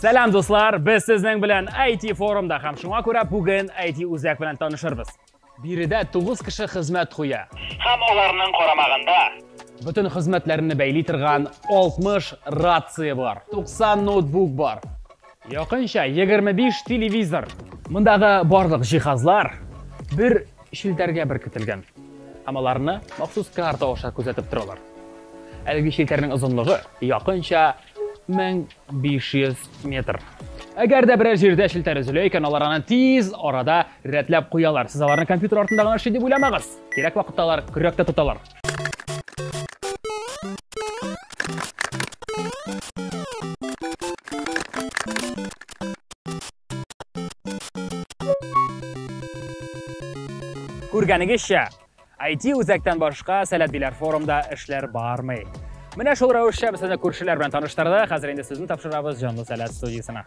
Сәлам дуслар, без сезнең белән IT форумда һәм шуңа күрә бүген IT үзәк белән танышырбыз. Биредә 9 кеше хезмәт куя. Һәм аларның карамагында бөтен хезмәтләрне бәйли торган 60 рация бар. 90 ноутбук бар. Якынча егерме биш телевизор. Мондагы барлык җиһазлар бер челтәргә беркетелгән һәм аларны махсус карта аша күзәтеп торалар. Әлеге челтәрнең озынлыгы якынча 1500 метр. Әгәр дә берәр җирдә челтәр өзелә икән, алар аны тиз арада рәтләп куялар. Сез аларны компьютер артында гына эшли дип уйламагыз. Кирәк вакытта алар көрәк тә тоталар. Күргәнегезчә, IT үзәктән башка сәләтлеләр форумда эшләр бармый. Менә шул рәвешчә без сезне күршеләр белән таныштырдык. Хәзер инде сезне тапшырабыз җанлы сәләт студиясенә.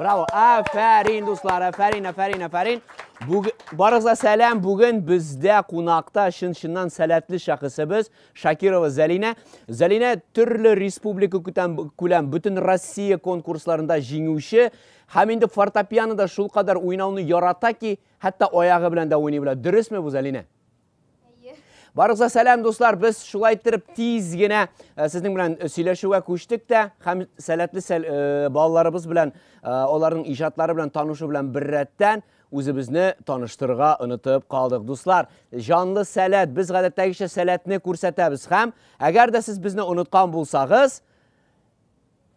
Браво! Афәрин, дуслар, афәрин, афәрин, афәрин. Бүг... Барыгызга сәлам. Бүген бездә кунакта чын-чыннан сәләтле шәхесебез Шакирова Зәлинә. Зәлинә төрле республика күтәм күләм бөтен Россия конкурсларында җиңүче һәм инде фортепианода шулкадәр уйнауны ярата ки, хәтта аягы белән дә уйный белә. Дөресме бу, Зәлинә? Барыгызга сәлам, дуслар. Без шулай иттереп тиз генә э, сезнең белән э, сөйләшүгә күчтек тә һәм сәләтле сәл, э, балаларыбыз белән аларның иҗатлары белән танышу белән беррәттән үзебезне таныштырырга онытып калдык. Дуслар, җанлы сәләт, без гадәттәгечә сәләтне күрсәтәбез һәм әгәр дә сез безне оныткан булсагыз,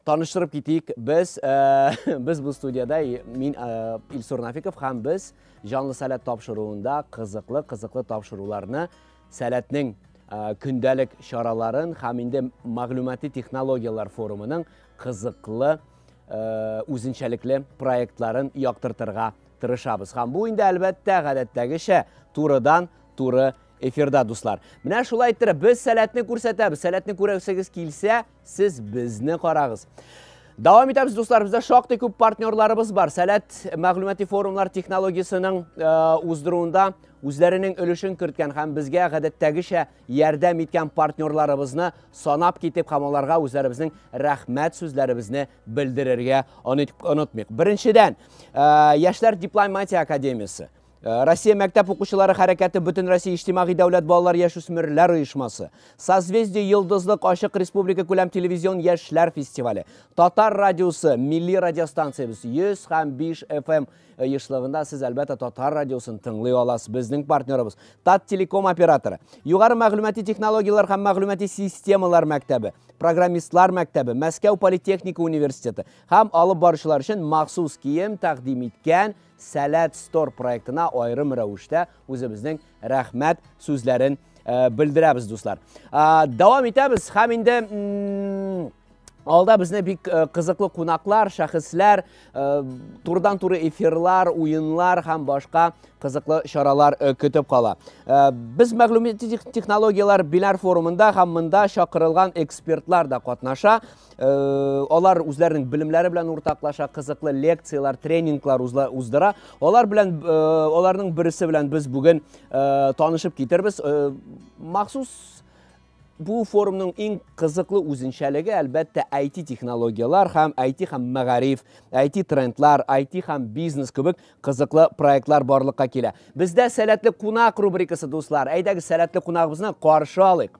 Таныштырып китик, без, без бу студияда, мин Илсур Нафиков, хәм без жанлы сәләт тапшыруында кызыклы, кызыклы тапшыруларны сәләтнең көндәлек чараларын хәм инде мәгълүмати технологияләр форумының кызыклы үзенчәлекле проектларын яктыртырга тырышабыз. Хәм бу инде әлбәттә гадәттәгечә турыдан туры эфирда дуслар. Менә шулай иттереп без сәләтне күрсәтәбез. Сәләтне күрәсегез килсә, Сез безне карагыз. Дәвам итәбез, дуслар, бездә шактый күп партнерларыбыз бар. Сәләт мәгълүмати форумлар технологиясенең э, уздыруында үзләренең өлешен керткән һәм безгә гадәттәгечә ярдәм иткән партнерларыбызны санап китеп һәм аларга үзләребезнең рәхмәт сүзләребезне белдерергә онытмыйк. Беренчедән, э, Яшьләр дипломатия академиясе. Э, Россия мәктәп укучылары хәрәкәте бөтен Россия иҗтимагый дәүләт балалар яшүсмерләр оешмасы, Созвездие йолдызлык ачык республика күләм телевизион яшьләр фестивале, Татар радиосы, милли радиостанциябез 100 һәм 5 FM оешлыгында сез әлбәттә Татар радиосын тыңлый аласыз. Безнең партнерыбыз Тат телеком операторы, Югары мәгълүмати технологияләр һәм мәгълүмати системалар мәктәбе, программистлар мәктәбе, Мәскәү политехника университеты һәм алып баручылар өчен махсус кием тәкъдим иткән Сәләт Store проектына аерым рәвештә үзебезнең рәхмәт сүзләрен белдерәбез, дуслар. Дәвам итәбез һәм инде Алда безне бик э, кызыклы кунаклар, шәхесләр, э, турдан туры эфирлар, уенлар һәм башка кызыклы чаралар э, көтеп кала. Без мәгълүмати технологияләр биләр форумында һәм монда чакырылган экспертлар да катнаша. Э, алар үзләренең белемнәре белән уртаклаша кызыклы лекцияләр тренинглар уздыра алар белән э, аларның берсе белән без бүген э, танышып китербез махсус бу форумның иң кызыклы үзенчәлеге әлбәттә IT технологияләр һәм IT һәм мәгариф, IT трендлар, IT һәм бизнес кебек кызыклы проектлар барлыкка килә. Бездә сәләтле кунак рубрикасы дуслар. Әйдәгез сәләтле кунагыбызны каршы алыйк.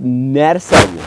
нәрсә бу?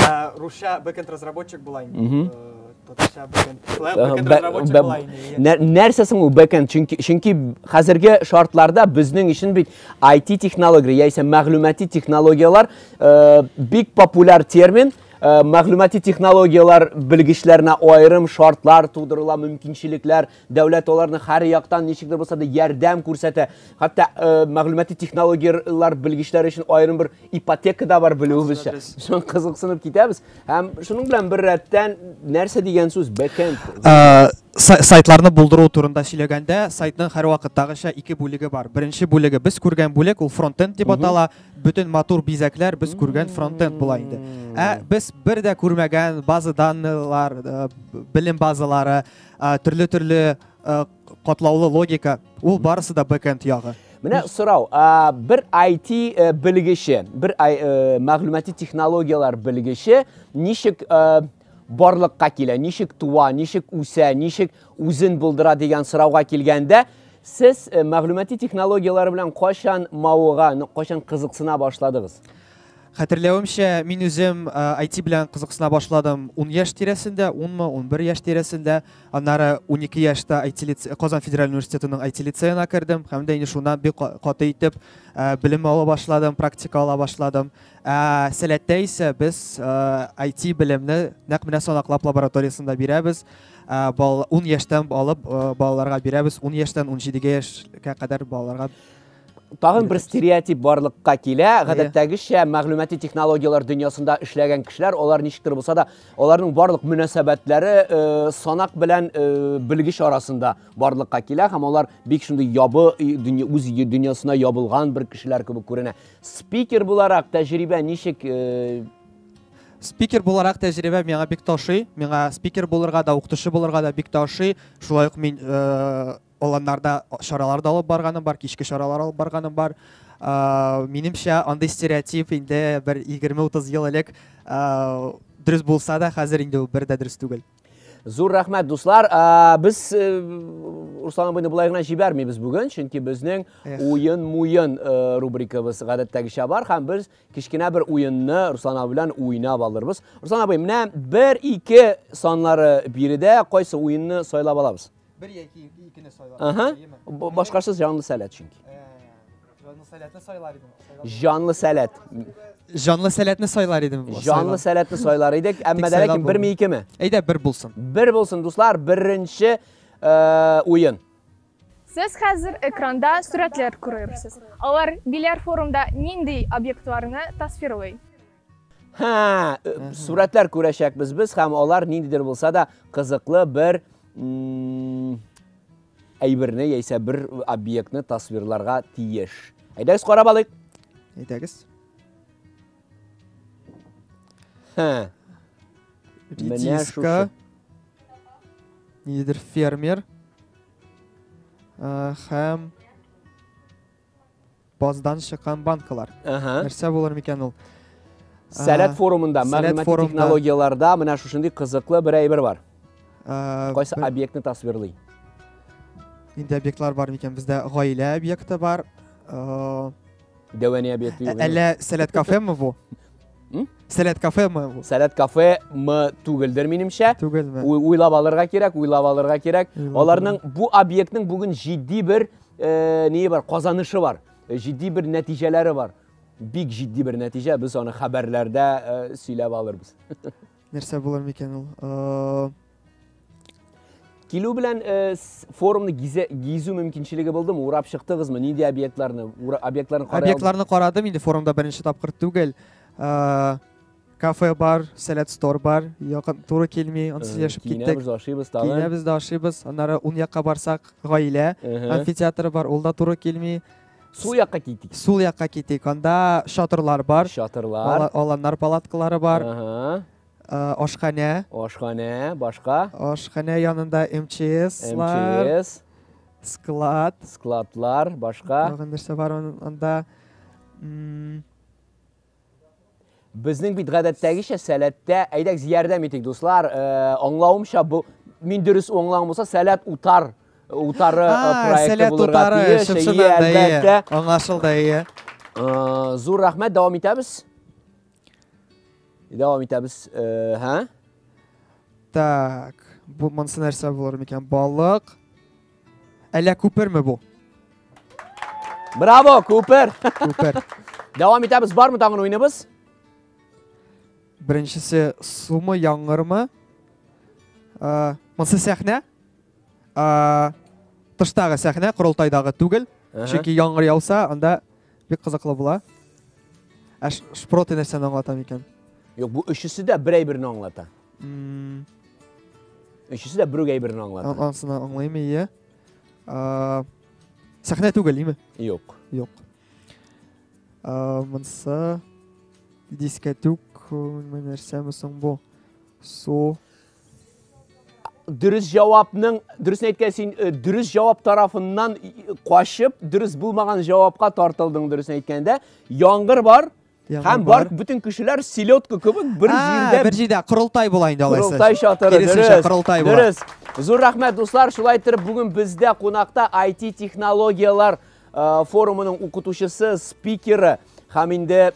Ә, Русча бэкэнд разработчик була инде. Мгм. Э, Татарча бэкэнд. Шулай Ага, бэкэнд бә- разработчик бә- була инде. иә. Нә- Нәрсә соң ул бэкэнд? Чөнки чөнки хәзерге шартларда безнең өчен бит IT технология яисә мәгълүмати технологияләр э, бик популяр термин. Э, Мәгълүмати технологияләр белгечләренә аерым шартлар тудырыла, мөмкинчелекләр Дәүләт аларны һәр яктан ничек дә булса да ярдәм күрсәтә. Хәтта э, мәгълүмати технологияләр белгечләре өчен аерым бер ипотека да бар белүебезчә. Шуның кызыксынып китәбез. Һәм шуның белән бер рәттән нәрсә дигән сүз? Бэкенд. Э, сайтларны булдыру турында сөйләгәндә, сайтның һәрвакыттагыча ике бүлеге бар. Беренче бүлеге без күргән бүлек, ул фронтенд дип атала. Бөтен матур бизәкләр без күргән фронтенд була инде. Ә без бер дә күрмәгән база данныйлар, э, белем базалары, Төрле-төрле катлаулы логика, ул барысы да бэкенд ягы. Менә сорау, бер IT э, белгече, бер э, мәгълүмати технологияләр белгече ничек э, барлыкка килә, ничек туа, ничек үсә, ничек үзен булдыра дигән сорауга килгәндә, сез мәгълүмати технологияләр белән кайчан мавыга, кайчан кызыксына башладыгыз? Хәтерләвемчә, мин үзем IT белән кызыксына башладым 10 яшь тирәсендә, 10 мы, 11 яшь тирәсендә. Аннары 12 яшьтә IT лицей, Казан федераль университетының IT лицеена кердем һәм дә инде шуннан бик каты итеп белем ала башладым, практика ала башладым. Ә Сәләттә исә без IT белемне нәкъ менә санаклап лабораториясендә бирәбез. 10 яшьтән алып балаларга бирәбез, 10 яшьтән 17 яшькә кадәр балаларга Тагын бер стереотип барлыкка килә. Гадәттәгечә мәгълүмати технологияләр дөньясында эшләгән кешеләр, алар ничектер булса да, аларның барлык мөнәсәбәтләре э, санак белән э, белгеч арасында барлыкка килә һәм алар бик шундый ябы үз дөньясына ябылган бер кешеләр кебек күренә. Спикер буларак тәҗрибә ничек э, спикер буларак тәҗрибә миңа бик ташый миңа спикер булырга да укытучы булырга да бик ташый шулай ук мин э, Аланнарда чаралар да алып барганым бар, кичке чаралар алып барганым бар. Минемчә, андый стереотип инде бер 20-30 ел элек дөрес булса да, хәзер инде бер дә дөрес түгел. Зур рәхмәт, дуслар. Без э, Руслан абыйны болай гына җибәрмибез бүген, чөнки безнең уен-муен э, рубрикабыз гадәттәгечә бар һәм без кечкенә бер уенны Руслан абый белән уйнап алырбыз. Руслан абый, менә бер ике санлары биредә кайсы уенны сайлап алабыз? Бер яки икене сайлар. Ага. Башкасыз җанлы сәләт чөнки. Җанлы сәләтне сайлар идем. Җанлы сәләт. Җанлы сәләтне сайлар идем. Җанлы сәләтне сайлар идек, әмма дә ләкин берме икеме? Әйдә, бер булсын. Бер булсын, дуслар, беренче уен. Сез хәзер экранда сурәтләр күрерсез. Алар биләр форумда нинди объектларны тасвирлый? Һә, сурәтләр күрәчәкбез без һәм алар ниндидер булса да кызыклы бер әйберне яисә бер объектны тасвирларга тиеш. Әйдәгез карап алыйк. Әйдәгез. Һә. Редиска. Ниндидер фермер. Һәм Баздан чыккан банкалар. Ага. Нәрсә булыр микән ул? Сәләт форумында, мәгълүмати технологияләрдә менә шушындый кызыклы бер әйбер бар. Кайсы объектны тасвирлый? Инде объектлар бар микән? Бездә гаилә объекты бар. Дәвәни объекты юк. Әллә сәләт кафемы бу? Сәләт кафемы бу? Сәләт кафемы түгелдер, минемчә. Түгелме? Уйлап алырга кирәк, уйлап алырга кирәк. Аларның бу объектның бүген җитди бер Ние бар, казанышы бар, җитди бер нәтиҗәләре бар. Бик җитди бер нәтиҗә, без аны хәбәрләрдә сөйләп алырбыз. Нәрсә булыр микән ул? Килү белән э, форумны гизе, гизү мөмкинчелеге булды ма? Урап чыктыгызмы? Нинди объектларны? Объектларны карадым. Объектларны карадым инде форумда беренче тапкыр түгел. Э, Кафе бар, сәләт стор бар, якын туры килми, ансыз яшәп киттек. Киенәбез дә ашыйбыз тагын. Киенәбез дә ашыйбыз, аннары ун якка барсак, гаилә амфитеатры бар, ул да туры килми. Сул якка китик. Сул якка китик. Анда шатырлар бар. Шатырлар. Аланнар палаткалары бар. Ашханә. Ашханә, башка? Ашханә янында МЧСлар. МЧС. Склад. Складлар, башка? Тагын нәрсә бар анда? Безнең бит гадәттәгечә сәләттә, әйдәгез ярдәм итик, дуслар. Э, аңлавымча, бу мин дөрес аңлаган булса, сәләт утар утары э, проекты булырга тиеш. Әлбәттә. Аңлашылды, ие. Э, зур рәхмәт, дәвам итәбез. Дәвам итәбез. Һә? Так, бу монсы нәрсә булыр микән? Балык. Әллә күперме бу? Браво, Купер! Күпер. Дәвам итәбез, бармы тагын уйныбыз? Беренчесе сумы яңгырмы? Ә, Монсы сәхнә. Ә, Тыштагы сәхнә, корылтайдагы түгел. Әһә. Чөнки яңгыр яуса, анда бик кызыклы була. Ә ш- шпроты нәрсәне аңлата микән? Юк, бу өчесе дә берәй-берне аңлата. Өчесе дә бөрек әйберен аңлады. Ансын аңлаймы, иә. Сәхнә түгел, име? Юк. Юк. Мынса дискәтүк нәрсәме соң бу? Су. Дөрес җавапның, дөрес әйткән син, э, дөрес җавап тарафыннан качып, дөрес булмаган җавапка тартылдың, дөрес әйткәндә. Яңгыр бар, Һәм бар бүтән кешеләр селедка кебек бер җирдә бер җирдә корылтай була инде алайса. Корылтай чатыры. Киресенчә корылтай була. Дөрес. Зур рәхмәт дуслар, шулай итеп бүген бездә кунакта IT технологияләр э, форумының укытучысы, спикеры һәм инде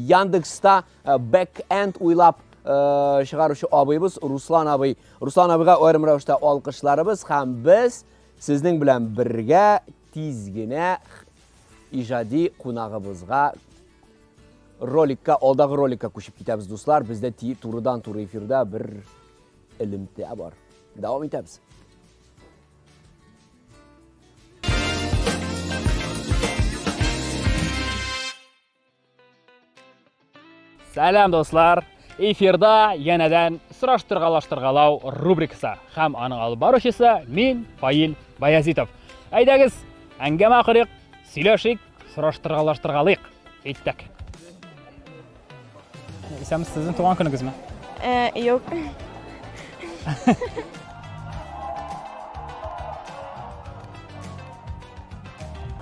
Яндекста э, бэк-энд уйлап э, чыгаручы абыйбыз Руслан абый. Руслан абыйга аерым рәвештә алкышларыбыз һәм без сезнең белән бергә тиз генә Иҗади кунагыбызга роликка, алдагы роликка күчеп китәбез, дуслар. Бездә турыдан туры эфирда бер элемтә бар. Дәвам итәбез. Сәлам, дуслар! Эфирда янәдән сораштыргалаштыргалау рубрикасы һәм аның алып баручысы мин Фаил Баязитов. Әйдәгез, әңгәмә корыйк, сөйләшик, сораштыргалаштыргалыйк. Әйттек. Исәмсез, сезнең туган көнегезме? Э, юк.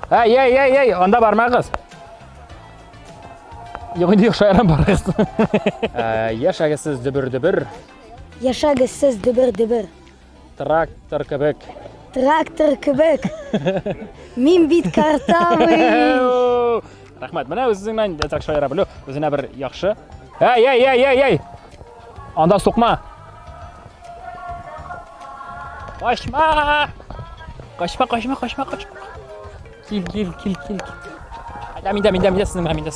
Әй, әй, әй, әй, анда бармагыз. Юк, инде юк, шаярам барыгыз. Ә, Яшәгез сез дөбер-дөбер, Яшәгез сез дөбер-дөбер. трактор кебек. Трактор кебек. Мин бит картавый. Әу! Рәхмәт. Менә үзеңнән так шаяра белү, үзенә бер яхшы. Әй, әй, әй, әй, әй. Анда сукма. Качма! Качма, качма, качма, качма. Кил, кил, кил, кил. Айда, миндә, миндә, миндә, синең миндә.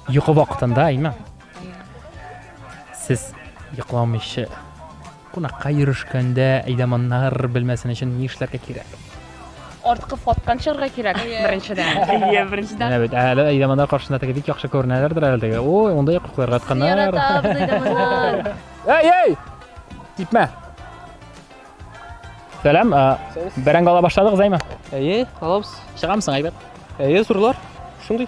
Йокы вакытында, әйме? Сез йокламыйчы Кунакка йөрешкәндә әйдаманнар белмәсен өчен ни эшләргә кирәк? Арткы фоткан чыгарга кирәк, беренчедән. Әйе, беренчедән. Менә бит, әле әйдаманнар каршында теге бик яхшы күренәләрдер әле теге. Ой, мондый яктыкларга атканнар. Яратабыз әйдаманнар. Әй, әй! Типмә. Сәлам, бәрәңге ала башладыгыз, әйме? Әйе, алабыз. Чыгамсың, әйбәт. Әйе, зурлар. Шундый.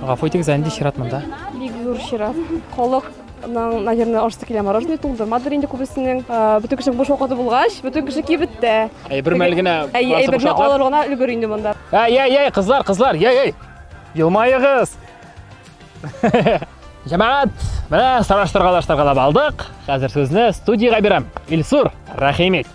Гафу итегез, ә нинди чират монда? Бик зур чират. Халык Нан, наверное, ашты килә мороженое тулды. Мадыр инде күбесенең бөтен кеше буш вакыты булгач, бөтен кеше кибет тә. Әйбер мәл генә. Әйберне алыр гына өлгер инде монда. Әй, әй, әй, кызлар, кызлар, әй, әй. Елмаегыз. Җәмәгать, менә сораштыргалаштыргалап алдык. Хәзер сүзне студиягә бирәм. Илсур, рәхим ит.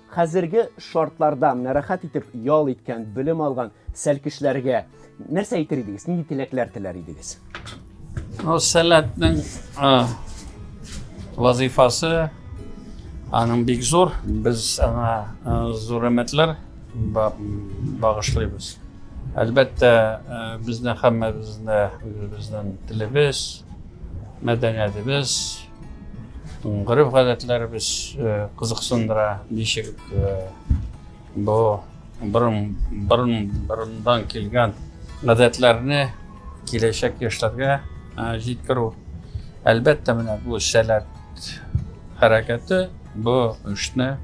Хәзерге шартларда менә рәхәт итеп ял иткән, белем алган сәлкешләргә нәрсә әйтер идегез? Нинди теләкләр теләр идегез? Ну, сәләтнең вазифасы аның бик зур. Без аңа зур өметләр багышлыйбыз. Әлбәттә, безне һәммәбезне үзебезнең телебез, мәдәниятебез, Гырыф гадәтләребез кызыксындыра, ничек бу борын борын борындан килгән гадәтләрне киләчәк яшьләргә җиткерү. Әлбәттә, менә бу сәләт хәрәкәте бу эшне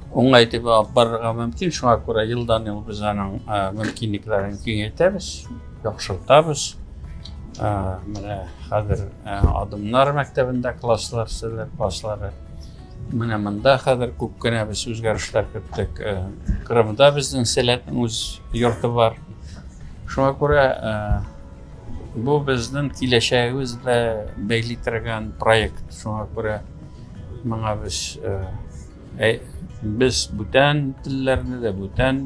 уңай итеп алып барырга мөмкин. Шуңа күрә елдан-ел без аның мөмкинлекләрен киңәйтәбез. Яхшыртабыз. Менә хәзер адымнар мәктәбендә класслар, серләр класслары. Менә монда хәзер күп кенә без үзгәрешләр көттек. Кырымда безнең сәләтнең үз йорты бар. Шуңа күрә бу безнең киләчәгебез дә бәйли торган проект. Шуңа күрә моңа без Ә без бүтән телләрне дә, бүтән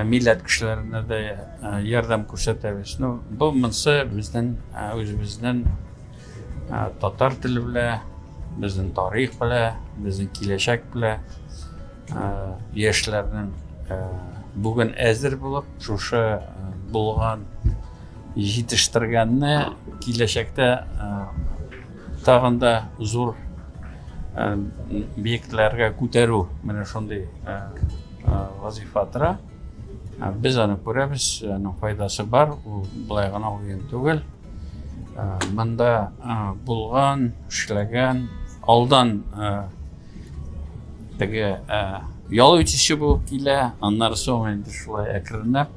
милләт кешеләренә дә ярдәм күрсәтәбез. Ну, бу монсы безнең үзебезнең татар теле белән, безнең тарих белән, безнең киләчәк белән яшьләрнең бүген әзер булып, шушы булган җитештергәнне киләчәктә Тагын да зур биекләргә күтәрү менә шундый вазифа тора. Без аны күрәбез, аның файдасы бар, ул былай гына уен түгел. Монда булган, эшләгән, алдан теге ял итүче булып килә, аннары соң инде шулай әкренләп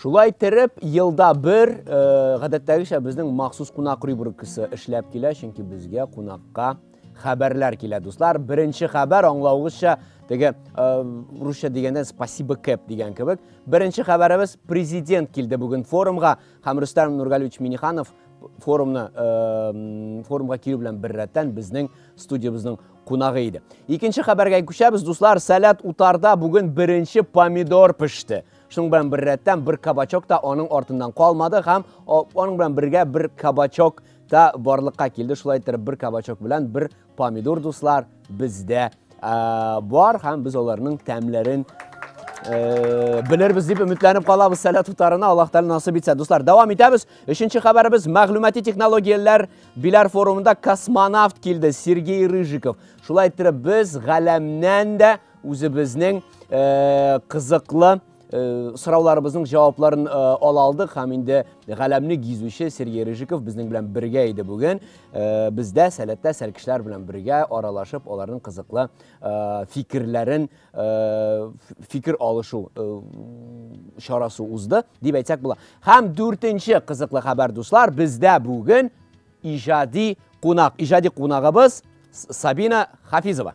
Шулай иттереп, елда бер, гадәттәгечә, безнең махсус кунак рубрикасы эшләп килә, чөнки безгә кунакка хәбәрләр килә, дуслар. Беренче хәбәр, аңлавыгызча, теге русча дигәндә спасибо кэп дигән кебек. Беренче хәбәребез президент килде бүген форумга һәм Рөстәм Нургалевич Миниханов форумны форумга килү белән беррәттән безнең студиябезнең кунагы иде. Икенче хәбәргә күчәбез, дуслар, сәләт утарда бүген беренче помидор пеште. Шуның белән бер рәттән бер кабачок та аның артыннан калмады һәм аның белән бергә бер кабачок та барлыкка килде. Шулай итеп бер кабачок белән бер помидор дуслар бездә бар һәм без аларның тәмләрен Э, белербез дип өметләнеп калабыз сәләт утарына аллаһ тәғәлә насып итсә дуслар дәвам итәбез өченче хәбәребез мәгълүмати технологияләр Биләр форумында космонавт килде Сергей Рыжиков. Шулай иттереп без галәмнән дә үзебезнең э, кызыклы э, сорауларыбызның җавапларын э, ала алдык һәм инде галәмне гизүче Сергей Рыжиков безнең белән бергә иде бүген. Э, бездә сәләттә сәлкешләр белән бергә аралашып, аларның кызыклы э, фикерләрен фикер алышу чарасы узды, дип әйтсәк була. Һәм дүртенче кызыклы хәбәр, дуслар, бездә бүген иҗади кунак, иҗади кунагыбыз Сабина Хафизова.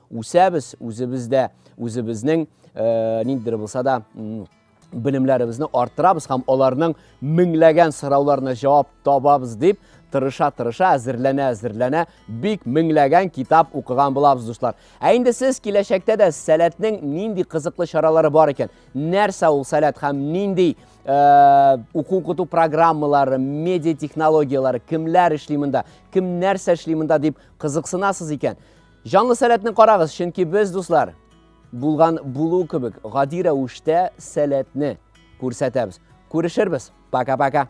Үсәбез, үзебез дә, үзебезнең ниндидер булса да белемләребезне арттырабыз һәм аларның меңләгән сорауларына җавап табабыз дип тырыша-тырыша, әзерләнә-әзерләнә бик меңләгән китап укыган булабыз, дуслар. Ә инде сез киләчәктә дә сәләтнең нинди кызыклы чаралары бар икән, нәрсә ул сәләт һәм нинди э, уку укыту программалары, медиа технологияләре, кемләр эшли монда, кем нәрсә эшли монда дип кызыксынасыз икән, Җанлы сәләтне карагыз, чөнки без, дуслар, булган булу кебек гади рәвештә сәләтне күрсәтәбез. Күрешербез. Пока-пока.